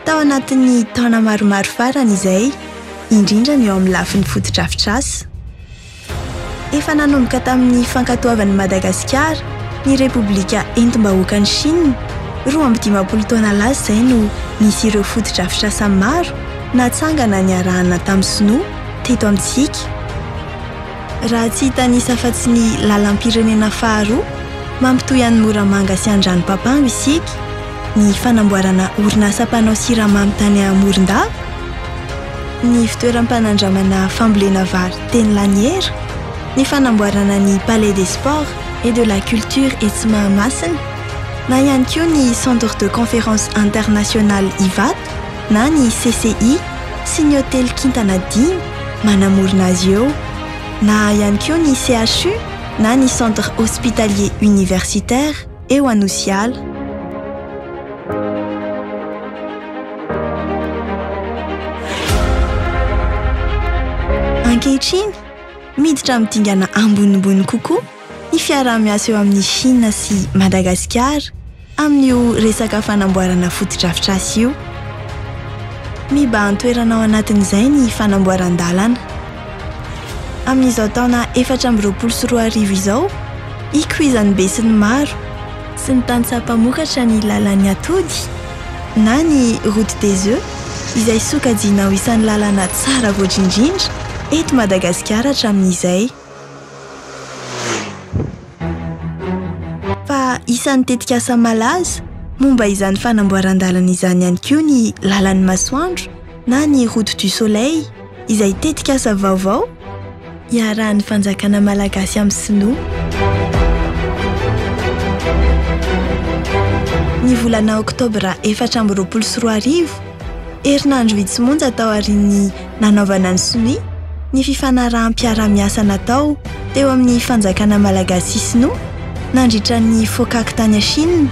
Tao anatin'ny taona maromaro farany izay, indrindra ny eo amin'ny lafiny fotodrafitrasa. Efa nanomboka tamin'ny fankatoavan'i Madagasikara ny Repoblika entim-bahoakan'i Shina, roa amby dimampolo taona lasa izay no nisy ireo fotodrafitrasa maro natsangana niarahana tamin'ny Sinoa teto amintsika. Raha tsy hitanisa afa-tsy ny lalam-pirenena faharoa mampitohy an'i Moramanga sy Andranopapango isika, ny fanamboarana orinasa mpanao siramamy tany Morondava, ny fitoeram-panandramana fambolena vary teny Laniera, ny fanamboarana ny Palais des Sports et de la Culture etsy Mahamasina, na ihany koa ny Centre de Conférence International Ivato, na ny CCI sy ny hotely kintana dimy manamorona azy eo, na ihany koa ny CHU na ny Centre Hospitalier Universitaire eo Anosiala. Ankehitriny, miditra amin'ny dingana ambonimbony kokoa ny fiaraha-miasa eo amin'i Shina sy Madagasikara amin'io resaka fanamboarana fotodrafitrasa io. Mibahan-toerana ao anatin'izay ny fanamboaran-dalana. Amin'izao taona efatra amby roapolo sy roa arivo izao, hikoizan'ny besinimaro sy ny tantsaha mpamokatra ny lalan'ny atody na ny Route des Oeufs izay sokajiana ho isan'ny lalana tsara voatra indrindra eto Madagasikara hatramin'izay. Fa isan'ny tetikasa malaza momba izany fanamboaran-dalana izany ihany koa ny lalan'ny masoandro na ny route du soleil izay tetikasa vaovao iarahan'ny fanjakana malagasy amin'ny sinoa. Ny volana oktobra efatra amby roapolo sy roa arivo, herinandro vitsy monja taorian'ny nanaovana ny sonia ny fifanaraham-piarahamiasa natao teo amin'ny fanjakana malagasy sy sinoa nandritra ny FOCAC tany Chine.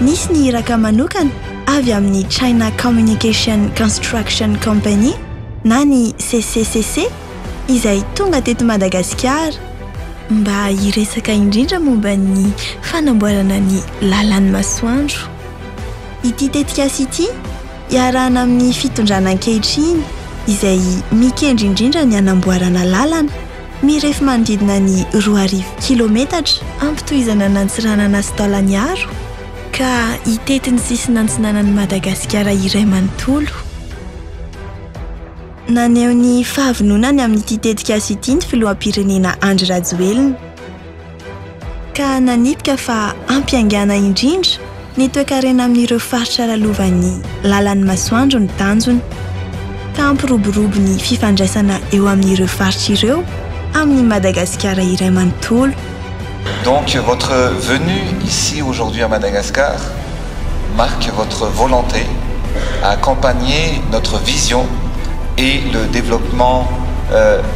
Nisy ny iraka manokana avy amin'ny China Communication Construction Company na ny CCCC izay tonga teto Madagasikara mba hiresaka indrindra momba ny fanamboarana ny lalan'ny masoandro. Ity tetikasa ity, Iarahana amin'ny fitondrana ankehitriny izay mikendry indrindra ny hanamboarana lalana mirefy manodidina ny roa arivo kilometatra, hampitohizana an'Antsiranana sy Taolagnaro ka hitety ny sisiny antsinanan'i Madagasikara iray manontolo. Naneho ny fahavononany amin'ity tetikasa ity ny filoham-pirenena Andry Rajoelina. ka nanipika fa hampiaingàna indrindra ny toekarena amin'ireo faritra lalovan'ny làlan'ny masoandro ny tanjona, ka hampiroborobo ny fifandraisana eo amin'ireo faritra ireo amin'i Madagasikara iray manontolo. Donc votre venue ici aujourd'hui à Madagascar marque votre volonté à accompagner notre vision et le développement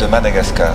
de Madagascar.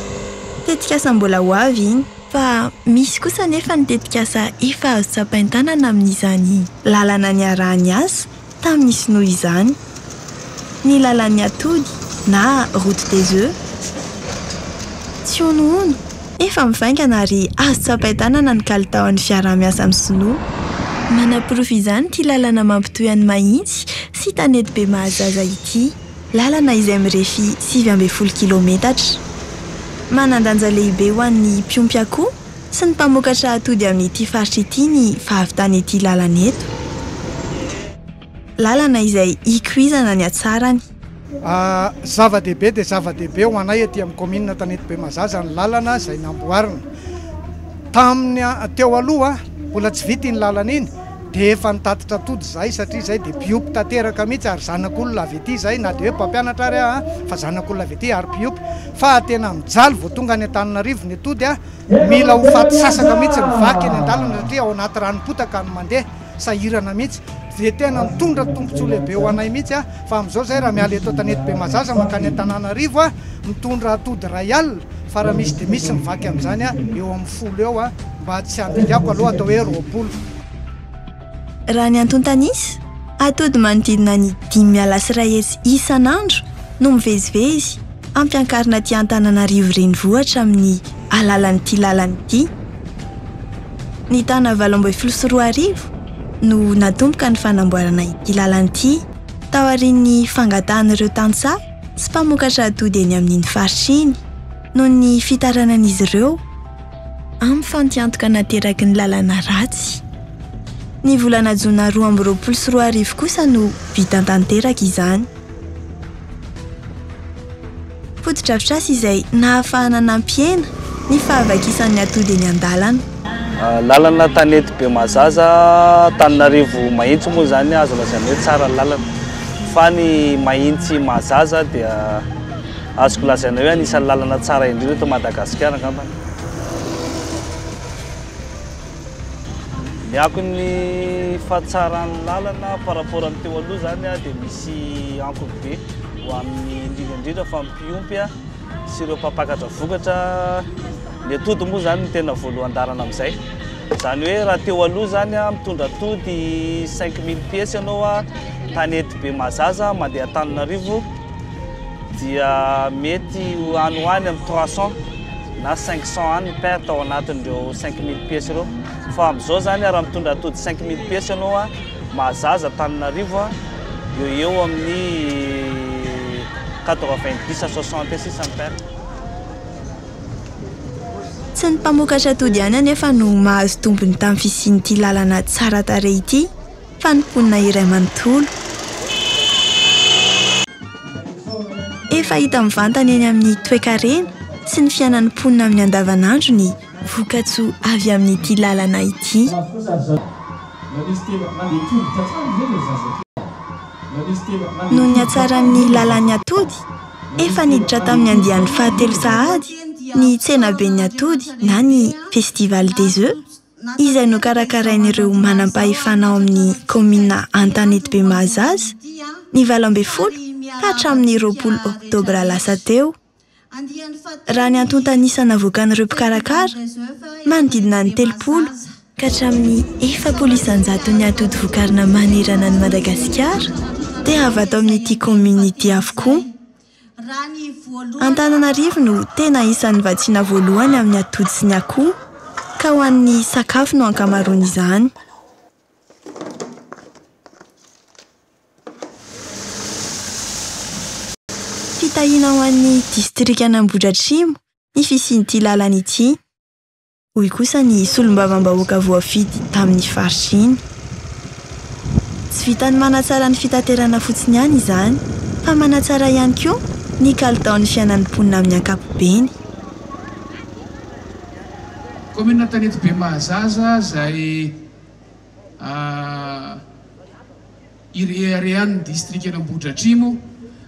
Tetikasa mbola ho avy iny. Fa misy kosa anefa ny tetikasa efa azo tsapain-tanana amin'izany lalana niarahany asa tamin'ny sinoa izany. Ny lalan'ny atody na route des oeufs. Tsy honohono, efa mivaingana ary azo tsapain-tanana ny kalitaon'ny fiaraha-miasa amin'ny sinoa. Manaporofo izany ity lalana mampitohy an'i Mahitsy sy Tanety Bemahazaza ity. Lalana izay mirefy sivy ambin'ny folo kilometatra. Manan-danja lehibe ho an'ny mpiompy akoho sy ny mpamokatra atody amin'ity faritra ity ny fahavitan'ity lalana eto. Lalana izay ikoizana ny hatsarany. Zava-dehibe dia zava-dehibe ho anay aty amin'ny kaominina Tanety Bemazaza ny lalana izay namboarina. Tamin'ny teo aloha mbola tsy vita iny lalana iny. Dia efa nitatitra tody izahay satria izahay dia mpiompy tanteraka mihitsy ary zanak'olona avy ety izahay na dia hoe mpampianatra ary aho fa zanak'olona avy ety ary mpiompy fa tena mijaly vao tonga any Antananarivo ny atody a! Mila ho faty sasaka mihitsy ny vaky eny an-dalana satria ao anaty ranom-potaka no mandeha, sahirana mihitsy. Dia tena nitondra tombontsoa lehibe ho anay mihitsy a! Fa amin'izao izahay raha miala eto an-tanety Bemazaza mankany Antananarivo a! mitondra atody iray alina fa raha misy dia misy ny vaky amin'izany a! eo amin'ny folo eo a! Mba tsy handingako aloha atao hoe roapolo. Raha ny antontan'isa, atody manodidina ny dimy miala sy iray hetsy isan'andro no mivezivezy ampiankarina aty Antananarivo renivohitra amin'ny alalan'ity lalana ity. Ny taona valo ambin'ny folo sy roa arivo no natomboka ny fanamboarana ity lalana ity taorian'ny fangatahan'ireo tantsaha sy mpamokatra atody eny amin'iny faritra iny noho ny fitaranan'izy ireo amin'ny fampiantoka nateraky ny lalana ratsy. Ny volana jona roa amby roapolo sy roa arivo kosa no vita tanteraka izany. Fotodrafitrasa izay nahafahana nampihena ny fahavakisan'ny atody eny an-dalana. Lalana tanety Bemazaza, Antananarivo Mahitsy moa izany azo lazaina hoe tsara ny lalana fa ny Mahitsy Mahazaza dia. Azoko lazaina hoe anisan'ny lalana tsara indrindra eto Madagasikara angambany. Ny akon'ny fahatsaran'ny lalana par rapport amin'ny teo aloha zany dia misy ankony be ho amin'ny indrindra indrindra fa ny mpiompy sy ireo mpampakatra vokatra. Ny atody moa zany ny tena voalohan-dalana amin'izay. Izany hoe raha teo aloha zany mitondra atody cinq mille pièces ianao tany Etibe Mahazaza mandeha Antananarivo, dia mety ho any ho any amin'ny trois cent na cinq cent any ny paire tao anatin'ireo cinq mille pièces ireo fa amin'izao izany raha mitondra atody cinq mille pièces ianao a mahazaza Antananarivo a eo eo amin'ny quatre-vingt-dix à soixante eo sisa ny paire Tsy ny mpamokatra atody ihany anefa no mahazo tombony tamin'ny fisian'ity lalana tsara tarehy ity. Fa ny mponina iray manontolo. Efa hita mivantana eny amin'ny toekarena sy ny fiainan'ny mponina amin'ny andavanandro ny vokatsoa avy amin'ity lalana ity. Noho ny hatsaran'ny lalan'ny atody, efa niditra tamin'ny andiany fahatelo sahady ny tsenaben'ny atody na ny Festival des Œufs, Iza no karakarain'ireo manam-pahefana ao amin'ny kaominina Antanetibe Mahazaza, ny valo ambin'ny folo ka hatramin'ny roapolo oktobra lasa teo? Raha ny antontan'isa navoakan'ireo mpikarakara, manodidina ny telopolo ka hatramin'ny efapolo isan-jato ny atody vokarina manerana an'i Madagasikara dia avy ato amin'ity kaominina ity avokoa. Antananarivo no tena isan'ny vatsiana voalohany amin'ny atody sy ny akoho ka ho an'ny sakafo no ankamaroan'izany. Fitahiana ho an'ny distrikan'Ambohidratrimo ny fisian'ity lalana ity. hoy kosa ny solombavambahoaka voafidy tamin'ny faritra iny. Tsy vitan'ny manatsara ny fitaterana fotsiny ihany izany fa manatsara ihany koa ny kalitaon'ny fiainan'ny mponina amin'ny ankapobeny. Kaominina Antanety Bemahazaza izay. Ireharehan'ny distrikan'Ambohidratrimo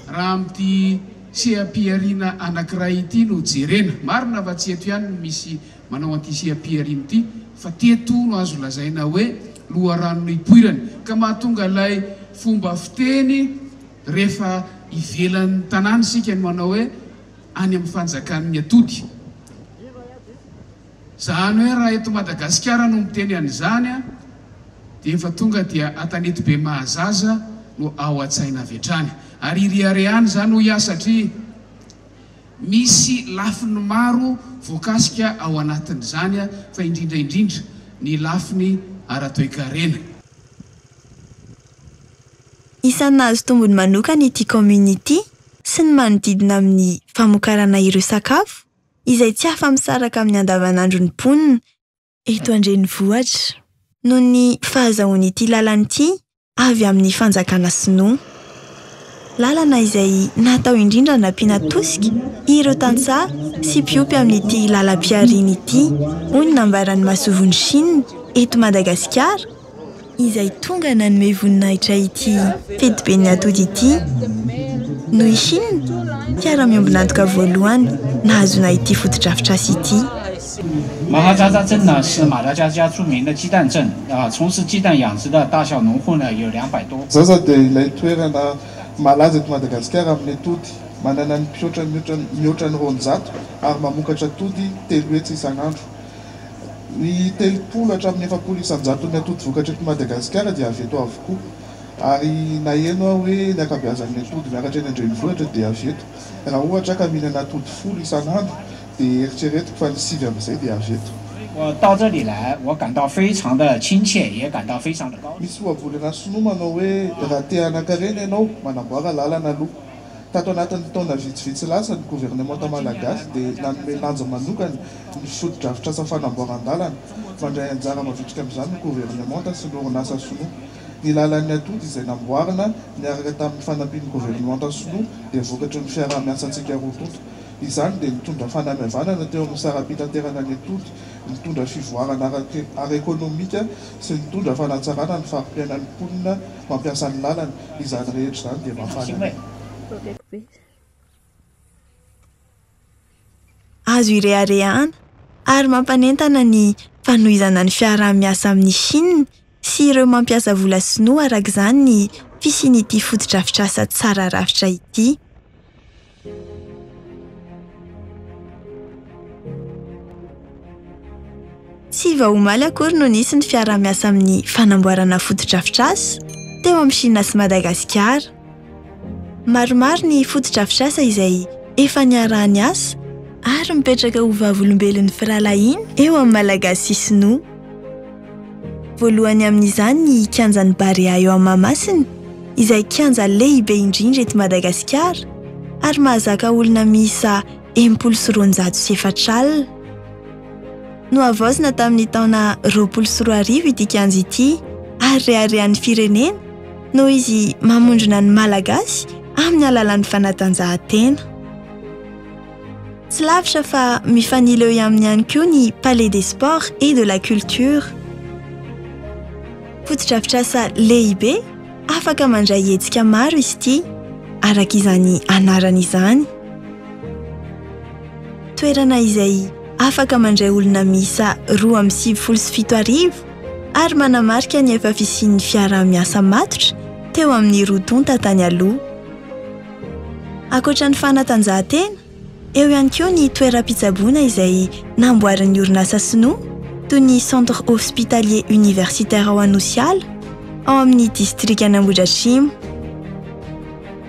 raha amin'ity seha-pihariana anankiray ity no jerena. Marina fa tsy eto ihany no misy manao an'ity seha-pihariana ity fa teto no azo lazaina hoe loharano nipoirany ka mahatonga ilay fomba fiteny rehefa ivelan'ny tanàna isika no manao hoe any amin'ny fanjakan'ny atody. Zany hoe raha eto Madagasikara no miteny an'izany dia efa tonga dia atanety be mahazaza no ao an-tsaina avy hatrany. Ary iriharehany izany hoy aho satria misy lafiny maro voakasika ao anatin'izany fa indrindra indrindra ny lafiny ara-toekarena. Isan'ny nahazo tombony manokana ity kaominina ity sy ny manodidina amin'ny famokarana ireo sakafo. izay tsy afa-misaraka amin'ny andavanandron'ny mponina eto an-drenivohitra noho ny fahazahoan'ity lalana ity avy amin'ny fanjakana sinoa. Lalana izay natao indrindra hanampiana tosika ireo tantsaha sy mpiompy amin'ity lalam-pihariana ity, hoy ny nambaran'ny Masovon'i Chine eto Madagasikara, izay tonga nanome voninahitra ity fetiben'ny atody ity no i Chine, mpiara-miombon'antoka voalohany nahazoana ity fotodrafitrasa ity. Zaza dia ilay toerana malaza eto Madagasikara amin'ny atody. Manana ny mpihoatra mihoatra ny roanjato ary mamokatra atody telo hetsy isan'andro. Ny telopolo hatramin'ny efapolo isan-jaton'ny atody vokatra eto Madagasikara dia avy eto avokoa. Ary naheno aho hoe ny ankabeazan'ny atody miakatra eny an-drenivohitra dia avy eto. Raha ohatra ka mihinana atody folo isan'andro dia eritreretiko fa ny sivy amin'izay dia avy eto. Misy ohabolana sinoa manao hoe raha te hanankarena ianao, manamboara lalana aloha. Tato anatin'ny taona vitsivitsy lasa, ny governemanta malagasy dia nanome lanja manokana ny fotodrafitrasa fanamboaran-dalana. Mandray anjara mavitrika amin'izany ny governemanta sy ny orinasa sinoa. Ny lalan'ny atody izay namboarina niaraka tamin'ny fanampian'ny governemanta sinoa dia vokatry ny fiaraha-miasantsika roa tonta. Izany dia nitondra fanamihavanana teo amin'ny saram-pitanterana ny atody, nitondra fivoarana ara-ekonomika, sy nitondra fanatsarana ny fari-piainan'ny mponina mampiasa ny lalana, izany rehetra izany dia mahafaly anay. Azo ireharehana ary mampanentana ny fanohizana ny fiaraha-miasa amin'i Chine sy ireo mampiasa vola sinoa araka izany ny fisian'ity fotodrafitrasa tsara rafitra ity. Tsy vao omaly akory no nisy ny fiaraha-miasa amin'ny fanamboarana fotodrafitrasa teo amin'ny Shina sy Madagasikara. Maromaro ny fotodrafitrasa izay efa niaraha-niasa ary mipetraka ho vavolombelon'ny firahalahiana eo amin'ny Malagasy sy Sinoa. Voalohany amin'izany ny kianjan'ny Barea eo Mahamasina, izay kianja lehibe indrindra eto Madagasikara ary mahazaka olona miisa enimpolo sy roanjato sy efatra alina. Nohavaozina tamin'ny taona roapolo sy roa arivo ity kianja ity ary reharehan'ny firenena noho izy mamondrona ny Malagasy amin'ny alalan'ny fanatanjahantena. Tsy lavitra fa mifanila eo aminy ihany koa ny Palais des Sports et de la Culture. Fotodrafitrasa lehibe afaka mandray hetsika maro izy ity, araka izany anarany izany. Toerana izay afaka mandray olona miisa roa amby sivifolo sy fito arivo ary manamarika ny efa fisian'ny fiaraha-miasa matotra teo amin'ny roa tonta tany aloha. Ankoatra ny fanatanjahantena, eo ihany koa ny toeram-pitsaboana izay namboarin'ny orinasa sinoa, toy ny Centre Hospitalier Universitaire ao Anosiala, ao amin'ny distrikan' Ambohidratrimo.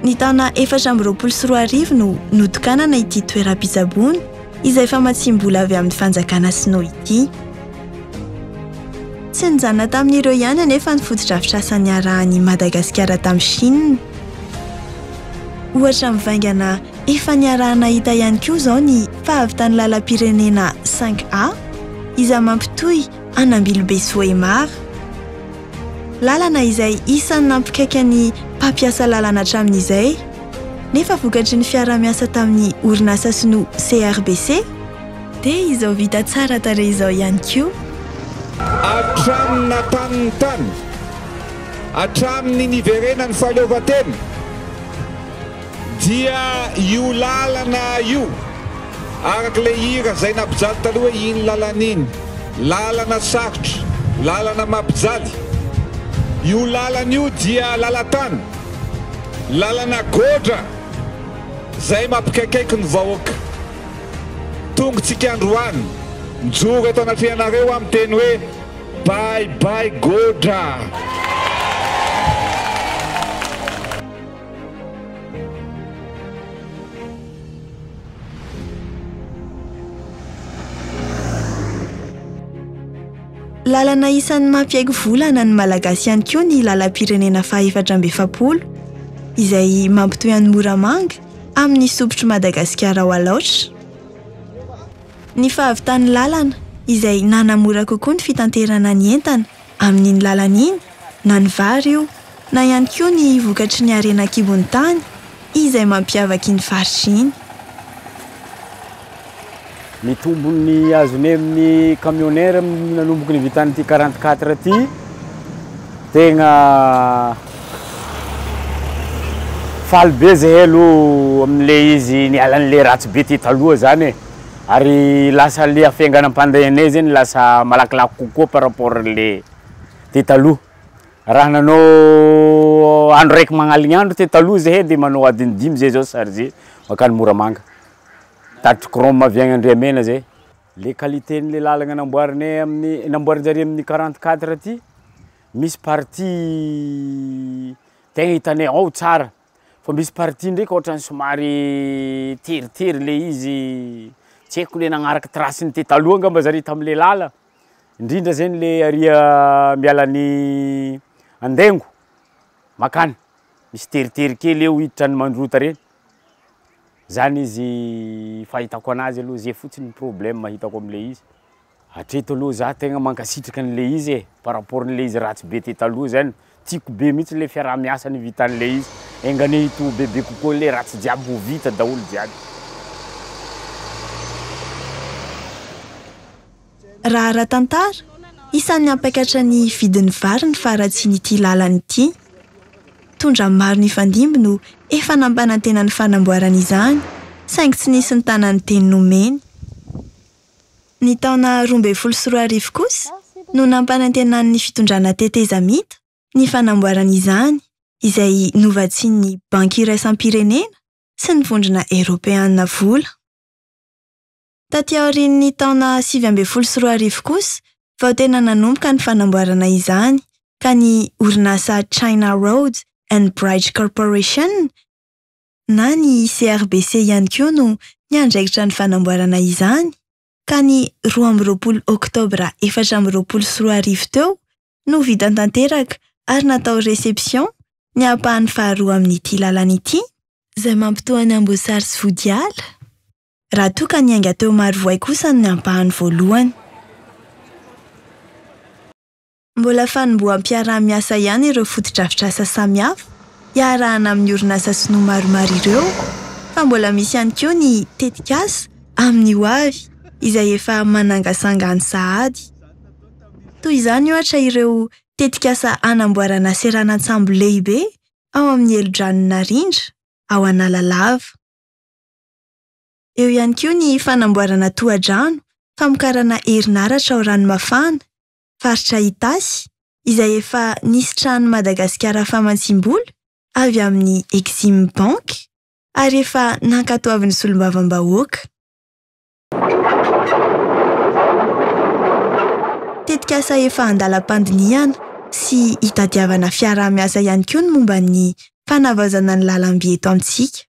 Ny taona efatra amby roapolo sy roa arivo no notokanana ity toeram-pitsaboana izay famatsiam-bola avy amin'ny fanjakana sinoa ity. Tsy nijanona tamin'ireo ihany anefa ny fotodrafitrasa niarahan'i Madagasikara tamin'i Shina. Ohatra mivaingana efa niaraha-nahita ihany koa izao ny fahavitan'ny lalam-pirenena cinq A izay mampitohy an'Ambilobe sy Vohémar. Lalana izay isan'ny nampikaika ny mpampiasa lalana hatramin'izay nefa vokatry ny fiaraha-miasa tamin'ny orinasa sinoa CRBC dia izao vita tsara tarehy izao ihany koa. Hatramin'ny nataniny tany. Hatramin'ny niverenan'ny fahaleovantena dia io lalana io, araka ilay hira izay nampijaly taloha hoe iny lalana iny, lalana sarotra, lalana mampijaly, io lalana io dia lalan-tany, lalana goatra izay mampikaikaiko ny vahoaka. Tongotsika androany, mijoro eto anatrehanareo aho miteny hoe. Bye bye Godra. Lalana isan'ny mampiaiky volana ny Malagasy ihany koa ny lalam-pirenena fahefatra amby efapolo izay mampitohy an'i Moramanga amin'ny isompotry Madagasikara ao Alaotra. Ny fahavitan'ny lalana, izay nanamora kokoa ny fitanterana ny entana amin'iny lalana iny, na ny vary io, na ihany koa ny vokatry ny harena an-kibon'ny tany izay mampiavaka iny faritra iny. Ny tombony azony amin'ny camionneur nanomboka nivitan'ity quarante quatre ity, tegna. Faly be zahay aloha amin'ilay izy nialan'ilay ratsy be tety aloha izany e. Ary lasa ilay hafainganam-pandehanay izany lasa malakilaky kokoa par rapport an'ilay tety taloha. Raha nanao andro raiky magnaligny andro tety taloha zahay dia manao adiny dimy zay zao chargé mankany Moramanga. Tatitry chrome avy any Andriamena zay. Le qualité-n'ilay lalagna namboarinay amin'ny, namboarin-jareo amin'ny quarante quatre ty. misy partie tegna hitanay ao tsara fa misy partie ndraiky ohatran'ny somary teritery le izy tsy haiko le nagnaraka trace-ny te taloha angamba zare tam'le lala indrindra zegny le aria miala an'i Andengo makany misy teritery kely eo hiditra any Mandrota reny zany izy fahitako anazy aloha zay fotsiny problème hitako am'le izy. Hatreto aloha za tegna mankasitraka an'le izy e, par rapport an'le izy ratsy be te taloha zany, tiako be mihitsy le fiaraha-miasa nivitan'le izy, enga anie hitohy bebe kokoa le ratsy jiaby ho vita daholo jiaby. Raha ara-tantara, isan'ny hampakatra ny vidin'ny vary ny faharatsian'ity lalana ity. Tondra maro nifandimby no efa nampanantena ny fanamboarana izany, saingy tsy nisy nitana ny teny nomeny. Ny taona roa ambin'ny folo sy roa arivo kosa no nampanantenan'ny fitondrana tetezamita ny fanamboarana izany, izay novatsian'ny Banky Iraisam-pirenena sy ny Vondrona Eropeana vola. Taty aorian'ny taona sivy ambin'ny folo sy roa arivo kosa vao tena nanomboka ny fanamboarana izany ka ny orinasa China Roads and Bridge Corporation, na ny CRBC ihany koa no miandraikitra ny fanamboarana izany ka ny roa amby roapolo oktobra efatra amby roapolo sy roa arivo teo no vita tanteraka ary natao reception ny ampahany faharoa amin'ity lalana ity izay mampitoha an'i Amboasary sy Vodiala, raha toa ka niainga teo Marovoay kosa ny ampahany voalohany. Mbola fanomboham-piaraha-miasa ihany ireo fotodrafitrasa samihafa iarahana amin'ny orinasa sinoa maromaro ireo fa mbola misy ihany koa ny tetikasa amin'ny ho avy izay efa manangasanga any sahady. Toy izany ohatra ireo tetikasa hanamboarana seranan-tsambo lehibe ao amin'ny helodranon'i Narindra ao Analalava. Eo ihany koa ny fanamboarana tohadrano famokarana herinaratra ao Ranomafana faritra Itasy, izay efa nisitrahan'i Madagasikara fahamantsim-bola avy amin'ny Exim Bank ary efa nankatoavin'ny solombavambahoaka. Tetikasa efa an-dalam-pandinihana sy itadiavana fiaraha-miasa ihany koa ny momba ny fanavaozana ny lalamby eto amintsika.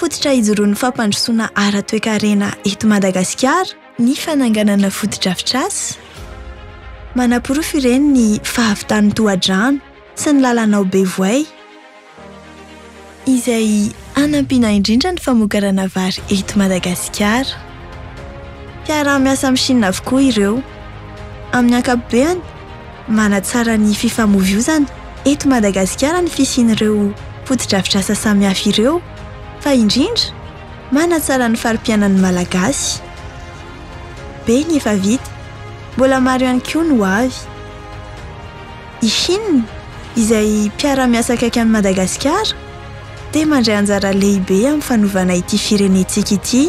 Fototra hijoroan'ny fampandrosoana ara-toekarena eto Madagasikara ny fananganana fotodrafitrasa manaporofo ireny ny fahavitan'ny tohadrano sy ny lalana ao Bevoay, izay hanampiana indrindra ny famokarana vary eto Madagasikara. Mpiaraha-miasa amin'ny Shina avokoa ireo, amin'ny ankapobeny. Manatsara ny fifamoivoizana eto Madagasikara ny fisian'ireo fotodrafitrasa samihafa ireo, fa indrindra manatsara ny fari-piainan'ny Malagasy. Be ny efa vita, mbola maro ihany koa ny ho avy. I Chine, izay mpiara-miasa akaiky an'i Madagasikara, dia mandray anjara lehibe amin'ny fanovana ity firenentsika ity.